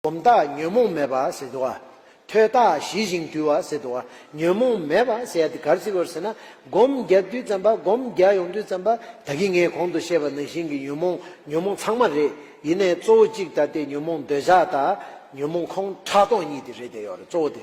སྒོམ་རྟགས་ཉོན་མོངས་མེད་པ་ཟེར་དུ་བ། ཐོས་རྟགས་ཞི་ཞིང་དུལ་བ་ཟེར་དུ་བ། ཉོན་མོངས་མེད་པ་ཟེར་ཡ་དེ་གར་བརྩི་བར་ཟེར་ན། སྒོམ་བརྒྱ་བསྡུས་བརྩམས་པ་སྒོམ་བརྒྱ་ཡོངས་བསྡུས་བརྩམས་པ་དག་གིས་ངས་གོང་དུ་བཤད་པ་ནང་བཞིན་གྱི་ཉོན་མོངས་ཉོན་མོངས་ཚང་མ་རེད་ཡིན་ནའི་གཙོ་བོ་གཅིག་ད་ལྟའི་ཉོན་མོངས་འདོད་ཆགས་དང། ཉོན་མོངས་ཁོང་ཁྲག་སྟོང་གཉིས་དེ་རེད་དེ་ཡོད་རེད་གཙོ་བོ་དེ།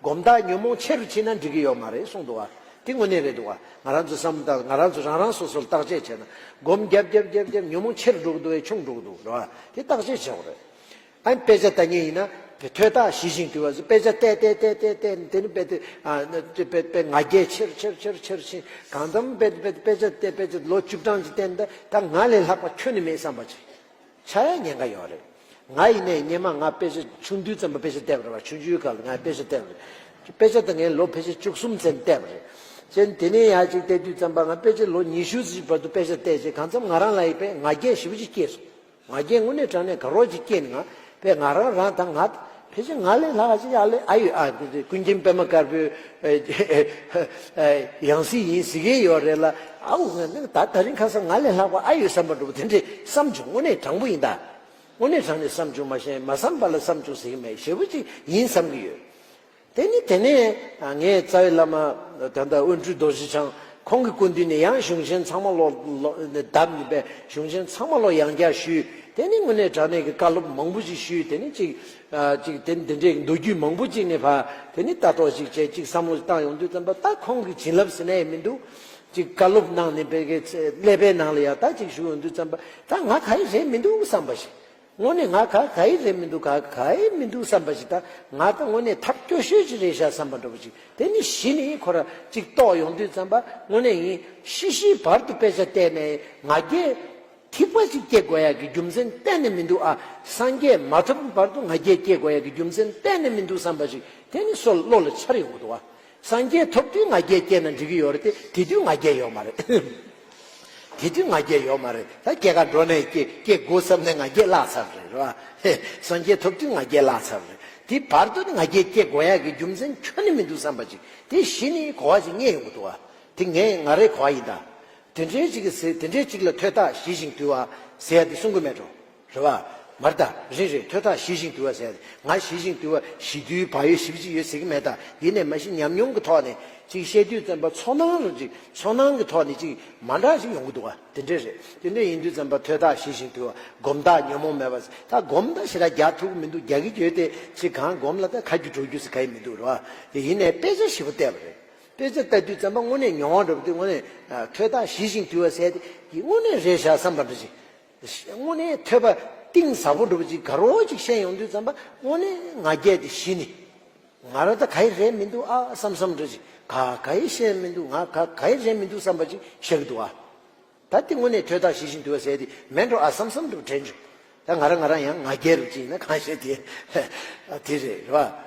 སྒོམ་རྟགས་ཉོན་མོངས་ཆེ་རུ་ཕྱིན་ན་འགྲིག་གི་ཡོད་མ་རེད་གསུངས་འདུག་བ་དེ་དངོས་གནས་རེད་འདུག་བ་ང་རང་ཚོའི་བསམ་བློ་ལྟར་ང་རང་ཚོ་རང་རང་སོ་སོར་བརྟག་དཔྱད་བྱས་ན་སྒོམ་བརྒྱབ་བརྒྱབ་བརྒྱབ་བརྒྱབ་ཉོན་མོངས་ཆེ་རུ་འགྲོ་གི་འདུག་བས་ཆུང་འགྲོ་གི་འདུག་རེད་བ་དེ་བརྟག་དཔྱད་བྱེད་འོག་རེད་ཨ། དཔེ་ཆ་བལྟ་ཉན་ཡིན་ན། དེ་ཐོས་རྟགས་ཞི་ཞིང་དུལ་བ་བཟོས་དཔེ་ཆ་བལྟས་བལྟས་བལྟས་བལྟས་བལྟས་ནས་དེ་ནས་དཔེ་དེ་དཔེ་དཔེ་དཔེ་ང་རྒྱལ་ཆེ་རུ་ཆེ་རུ་ཆེ་རུ་ཆེ་རུ་ཕྱིན་གང་ཙམ་དཔེ་དཔེ་དཔེ་ཆ་བལྟས་དཔེ་ཆ་ལོ་བཅུ་གྲངས་ཅིག་བལྟས་ནས་ད་ང་ལས་ལྷག་པ་ཁྱོད་ནི་མེད་བསམ་པ་ཅིག། ཆ་ཡང་ཉེན་ཁ་ཡོང་རེད། ང་ཡིན་ནའི་ཉེས་མ་ང་དཔེ་ཆ་ཆུང་དུས་ཙམ་པོ་དཔེ་ཆ་བལྟས་པ་རེད་བ་ཆུང་ཆུང་སྐབས་ལ་ང་དཔེ་ཆ་བལྟས་པ་རེད། དཔེ་ཆ་དེ་ངས་ལོ་ཕལ་ཆེར་བཅུ་གསུམ་ཚན་བལྟས་པ་རེད། ཅན་དེ་ནས་ཡག་ཅིག་བལྟས་དུས་ཙམ་པ་ང་དཔེ་ཆ་ལོ་ཉི་ཤུ་ཅིག་བར་དུ་དཔེ་ཆ་བལྟས་རྗེས་གང་འཚམ་ང་རང་ལ་ཡི་དཔེ་ང་རྒྱན་ཞིབ་པོ་ཅིག་སྐྱེས་སོང། ང་རྒྱན་དངོས་གནས་དྲངས་ནས་དགའ་རོགས་ཅིག་སྐྱེས་ནས་ང་དཔེ་ང་རང་རང་དང་ང་དེ་བཞིན་ང་ལས་ལྷ་གཞི་ཡག་ལས་ཨ་ཡོད་ཨ་འདི་ཀུན་མཁྱེན་པད་མ་དཀར་པོའི་ཡང་སྲིད་ཡིན་ཟེར་གྱི་ཡོད་རེད་ལ་ཨ་འུ་ངས་ནི་ད་ད་རིང་ཁ་སང་ང་ལས་ལྷག་པ་ཨ་ཡོད་བསམ་པ་འགྲོ་བ་དེ་འདྲས་བསམ་བྱུང་དངོས་གནས་དྲང་པོ་ཡིན་ད། དངོས་གནས་དྲང་ནས་བསམ་བྱུང་མ་ཤེས་མ་བསམ་པ་ལ་བསམ་བྱུང་ཟེར་གྱི་མེད་ཞེ་བོ་ཅིག་ཡིན་བསམ་གྱི་ཡོད། དེ་ནི་དེ་ནས་ངས་རྩ་བའི་བླ་མ་ད་ལྟ་དབོན་སྤྲུལ་རྡོ་རྗེ་འཆང་ཁོང་གི་སྐུ་མདུན་ནས་ཡང་གཞུང་ཆེན་ཚང་མ་བློ་དབབ་ནས་པའི་གཞུང་ཆེན་ཚང་མ་བློ་ཡང་བསྐྱར་ཞུས་དེ་ནས་དངོས་གནས་དྲ་གནས་ཀྱི་བཀའ་སློབ་མང་པོ་ཞིག་ཞུས་དེ་ནས་ཅིག་ཅིག་དེ་འདི་འདྲའི་མདོ་རྒྱུད་མང་པོ་ཅིག་ནས་ཕ་དེ་ནས་ལྟ་རྟོག་ཅིག་བྱས་ཅིག་བསམ་བློ་བཏང་ཡོང་དུས་བསམ་པ་ད་ཁོང་གི་བྱིན་རླབས་ཟེར་ན་ཡང་མི་འདུག་ཅིག་བཀའ་སློབ་གནང་ནས་པའི་ཀླད་པའི་ནང་ལ་ཡང་ད་ཅིག་ཞུགས་ཡོང་དུས་བསམ་པ་ད་ང་ག་རེ་རེད་མི་འདུག་བསམ་པ་ཞིག་དངོས་གནས་ང་ག་ག་ཡི་རེད་མི་འདུག་ག་ག་ཡི་མི་འདུག་བསམ་པ་ཞིག་དང་ང་ད་དངོས་གནས་ཐབས་སྐྱོ་ཤོས་ཅིག་རེད་ཤག་བསམ་པ་འདྲ་པོ་ཅིག་དེ་ནི་གཞི་ནས་ཁོ་ར་ཅིག་རྟོགས་ཡོང་དུས་བརྩམས་པ་དངོས་གནས་ཡིན། ཤི་ཤིའི་བར་དུ་དཔེ་ཆ་བལྟས་ནས་ང་རྒྱལ། ཐིགས་པ་ཅིག་སྐྱེ་དགོས་ཡག་གི་རྒྱུ་མཚན་གཏན་ནས་མི་འདུག་ཨ། སངས་རྒྱས་མ་ཐོབ་ཀྱི་བར་དུ་ང་རྒྱལ་སྐྱེ་དགོས་ཡག་གི་རྒྱུ་མཚན་གཏན་ནས་མི་འདུག་བསམ་པ་ཞིག་དེ་ནི་སོ་ལོ་ལ་འཆར་ཡོང་གི་འདུག་ཨ། སངས་རྒྱས་ཐོབ་དུས་ང་རྒྱལ་སྐྱེས་ན་འགྲིག་གི་ཡོད་རེད་དེ་དེ་དུས་ང་རྒྱལ་ཡོད་མ་རེད། དེ་དུས་ང་རྒྱལ་ཡོད་མ་རེད་ད་སྐྱེ་ཁ་འགྲོ་ནས་སྐྱེ་དགོས་བསམ་ནས་ང་རྒྱལ་བརླག་ཚར་རེད་རེད་བ། སངས་རྒྱས་ཐོབ་དུས་ང་རྒྱལ་བརླག་ཚར་རེད་དེ་བར་དུ་ནི་ང་རྒྱལ་སྐྱེ་དགོས་ཡག་གི་རྒྱུ་མཚན་ཁྱོན་ནས་མི་འདུག་བསམ་པ་ཅིག་དེ་བཞི་ནི་གོ་བ་ཅིག་རྙེད་ཡོང་གི་འདུག་བ། དེ་ངས་ང་རེ་གོ་བ་ཡིན་ད། དེ་འདྲའི་ཅིག་གི་ཟེར་དེ་འདྲའི་ཅིག་ལ་ཐོས་རྟགས་ཞི་ཞིང་དུལ་བ་ཟེར་ཡ་དེ་གསུང་གི་མེད་འགྲོ། རེ་བ། མར་ད། རེད་རེད་ཐོས་ཐག་ཞི་ཞིང་དུལ་བ་ཟེར་ཡ་ང་ཞི་ཞིང་དུལ་བ་ཞི་དུལ་བག་ཡོད་ཞི་བྱེད་ཡོད་ཟེར་གྱི་མེད་ད་འདི་ནས་མ་ཤི་ཉམས་མྱོང་གི་ཐོག་ནས་ཅིག་བཤད་དུས་བཙན་པ་ཚོགས་ནང་ལ་ཅིག་ཚོགས་ནང་གི་ཐོག་ནས་ཅིག་མ་འདྲ་ཞིག་ཡོང་གི་འདུག་ག་དེ་འདྲས་རེད་དེ་འདྲས་ཡིན་དུས་བཙན་པ་ཐོས་ཐག་ཞི་ཞིང་དུལ་བ་སྒོམ་ཐག་ཉོན་མོངས་མེད་པ་ཟེར་ད་སྒོམ་ཐག་ཞི་ད་རྒྱག་ཐུབ་ཀྱི་མི་འདུག་རྒྱག་གི་ཡོད་དེ་ཅིག་གང་སྒོམ་ལ་ད་ཁ་རྒྱུ་གྲོ་རྒྱུ་ཟེར་ག་ཡི་མི་འདུག་རེ་བ། དེ་ཡིན་ནས་དཔེ་ཆ་ཞིབ་པོ་བལྟས་པ་རེད་དཔེ་ཆ་བལྟ་དུས་བཙན་པ་དངོས་གནས་མྱོང་བ་འདྲ་བོ་འདི་དངོས་གནས་ཐོས་ཐག་ཞི་ཞིང་དུལ་བ་ཟེར་དེ་ཡི་དངོས་གནས་རེད་བཞག་བསམ་པ་འདྲ་ཅིག་དངོས་གནས་ཐོས་པ་གཏིང་ཟབ་པོ་འགྲུབ་ཅིག་དགའ་རོགས་གཅིག་བཤད་ཡོང་དུས་བརྩམས་པ་དངོས་གནས་ང་རྒྱལ་དེ་གཞི་ནི། ང་ར་ད་ག་ཡི་རེད་མི་འདུག་ཨ་བསམ་བསམ་འགྲོ་ཅིག་ག་ག་ཡི་བཤད་མི་འདུག་ང་ག་ག་ཡི་རེད་མི་འདུག་བསམ་པ་ཅིག་བཤད་གི་འདུག་ཨ། ད་དེ་དངོས་གནས་ཐོས་ཐག་ཞི་བཞིན་དུ་ཟེར་དེ་མེད་འགྲོ་ཨ་བསམ་བསམ་འགྲོ་བྲལ་འགྲོ། ད་ང་ར་ང་རང་ཡང་ང་རྒྱལ་རུ་བཅིངས་ན་གང་བཤད་དེ་དེ་རེད་རེད་བ།